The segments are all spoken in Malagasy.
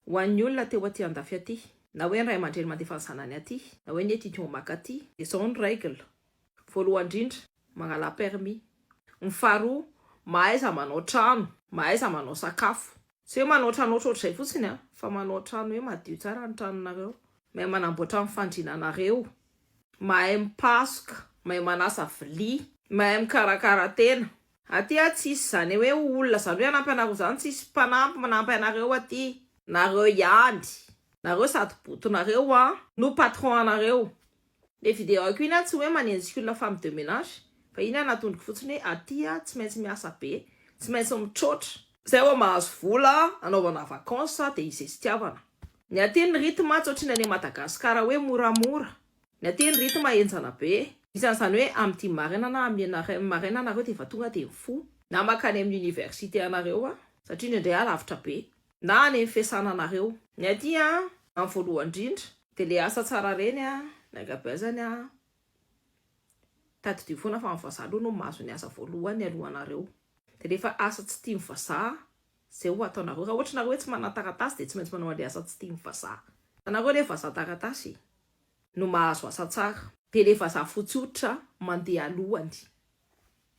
Ho an'ny olona te ho aty andafy aty. Na hoe ny ray aman-dreny mandefa ny zanany aty. Na hoe ny étudiant maka aty. Dia izao ny règle. Voalohany indrindra, mangalà permis. Ny faharoa, mahaiza manao trano, mahaiza manao sakafo. Tsy hoe manao trano ohatrohatr'izay fotsiny an, fa manao trano hoe madio tsara ny tranonareo. Mahay manamboatra ny fandriananareo. Mahay mipasoka, mahay manasa vilia. Mahay mikarakara tena. Aty a tsisy zane hoe olona zany hoe hanampy anareo zany tsisy mpanampy manampy anareo aty. Nareo ihany. Nareo sady boto nareo a. No patron anareo. Le video ko iny a tsy hoe manenjika olona femme de menage fa iny anatondriko fotsiny hoe aty a tsy maintsy miasa be, tsy maintsy mitroatra. Zay vao mahazo vola anaovana vacances de izay sitiavana. Ny aty ny rythme tsy ohatrin'ny any Madagascar hoe moramora. Ny aty ny rythme henjana be. Isan'ny izany hoe amity maraina na am ianareo maraina nareo dia efa tonga dia mifoha. Na makany amin'ny université anareo an! Satria indraindray an lavitra be. Na any amin'ny fiasana anareo. Ny aty an, amin'ny voalohany indrindra. Dia le asa tsara reny an, ny ankabeazany an, tadidio foana fa ny vazaha aloha no mahazo ny asa voalohany alohanareo. Dia rehefa asa tsy tian'ny vazaha Zay ho ataonareo. Raha ohatra nareo hoe tsy manana taratasy dia tsy maintsy manao an'ilay asa tsy tian'ny vazaha. Ianareo ilay vazaha taratasy no mahazo asa tsara. Dia ilay vazaha fotsy hoditra mandeha alohany.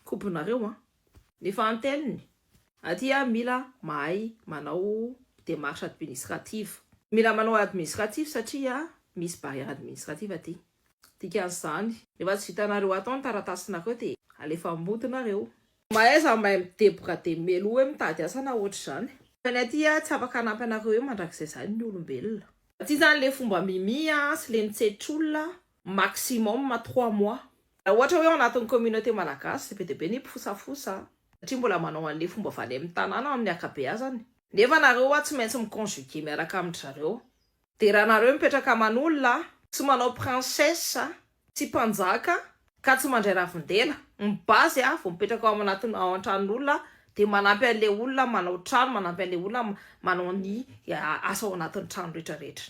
Kobonareo an. Ny fahantelony, aty an mila mahay manao démarche administrative. Mila manao administratif satria misy barrière administrative aty. Dikan'izany. Rehefa tsy vitanareo atao ny taratasinareo dia alefa am bodinareo. Mahaiza mahay mideboka de meloa hoe mitady asa na ohatry zany. Fa ny aty a tsy afaka hanampy anareo eo mandrakizay zany ny olombelona. Ty zany le fomba mimi a sy le mitsetsitra olona maximum trois mois. Raha ohatra hoe ao anatin'ny communauté malagasy dia be dia be ny mpifosafosa satria mbola manao an'le fomba valemy tanàna amin'ny akabeazany. Nefa nareo wa tsy maintsy mi conjuguer miaraka amin-dry zareo. Dia raha nareo mipetraka aman'olona tsy manao princesse tsy mpanjaka ka tsy mandray ravindela ny base a vao mipetraka ao anatin'ny ao an-tranon'olona dia manampy an'ilay olona manao trano manampy an'ilay olona manao ny asa ao anatin'ny trano rehetra rehetra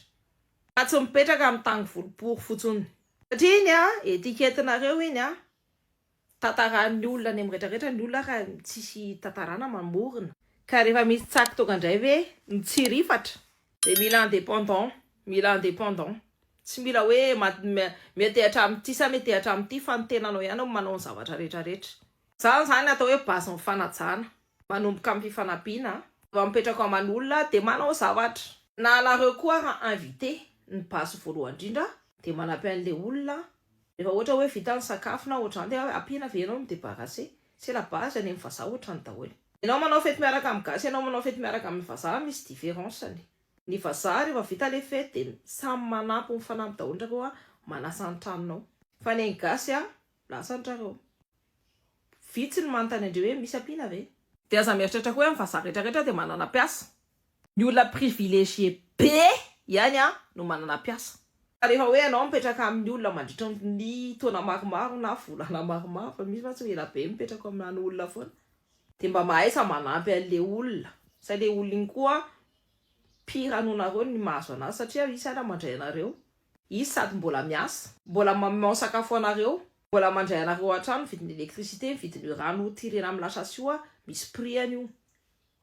fa tsy mipetraka amin'ny tany volopory fotsony satria iny a etiquette-nareo iny a Tantaran'ny olona any amin'ny retraretra ny olona ary tsisy tantarana mamorona. Ka rehefa misy tsaky tonga indray ve mitsirifatra. Dia mila indépendant, mila indépendant. Tsy mila hoe miantehatra amin'ity sa miantehatra amin'ity fa ny tenanao ihany no manao ny zavatra rehetra rehetra. Izany izany atao hoe base ny fanajana. Manomboka amin'ny fifanampiana a. Vao mipetraka ao aman'olona dia manao zavatra. Na anareo koa ary invité, ny base voalohany indrindra dia manampy an'ilay olona Rehefa ohatra hoe vita ny sakafo na ohatran'izany dia ampiana ve ianao mi-debarrasser? C'est la base any amin'ny vazaha ohatrany daholo. Ianao manao fety miaraka amin'ny gasy ianao manao fety miaraka amin'ny vazaha misy différence-ny. Ny vazaha rehefa vita le fety dia samy manampy mifanampy daholo ndray koa manasa ny tranonao. Fa ny an'ny gasy a lasa ny trareo. Vitsy ny manontany andreo hoe misy ampiana ve? Dia aza mieritreritra koa hoe ny vazaha rehetra rehetra dia manana mpiasa. Ny olona privilegié be ihany no manana mpiasa. Ka rehefa hoe ianao mipetraka amin'ny olona mandritra ny taona maromaro na volana maromaro, fa misy mantsy ho ela be mipetraka ao aminà olona foana, dia mba mahaiza manampy an'ilay olona, sao ilay olona iny koa pire noho nareo ny mahazo an'azy, satria izy sahala mandray anareo, izy sady mbola miasa, mbola mamao sakafo anareo, mbola mandray anareo an-trano, ny vidin'ny électricité, ny vidin'io rano tirena amin'ny la chasse io, misy prix-any io.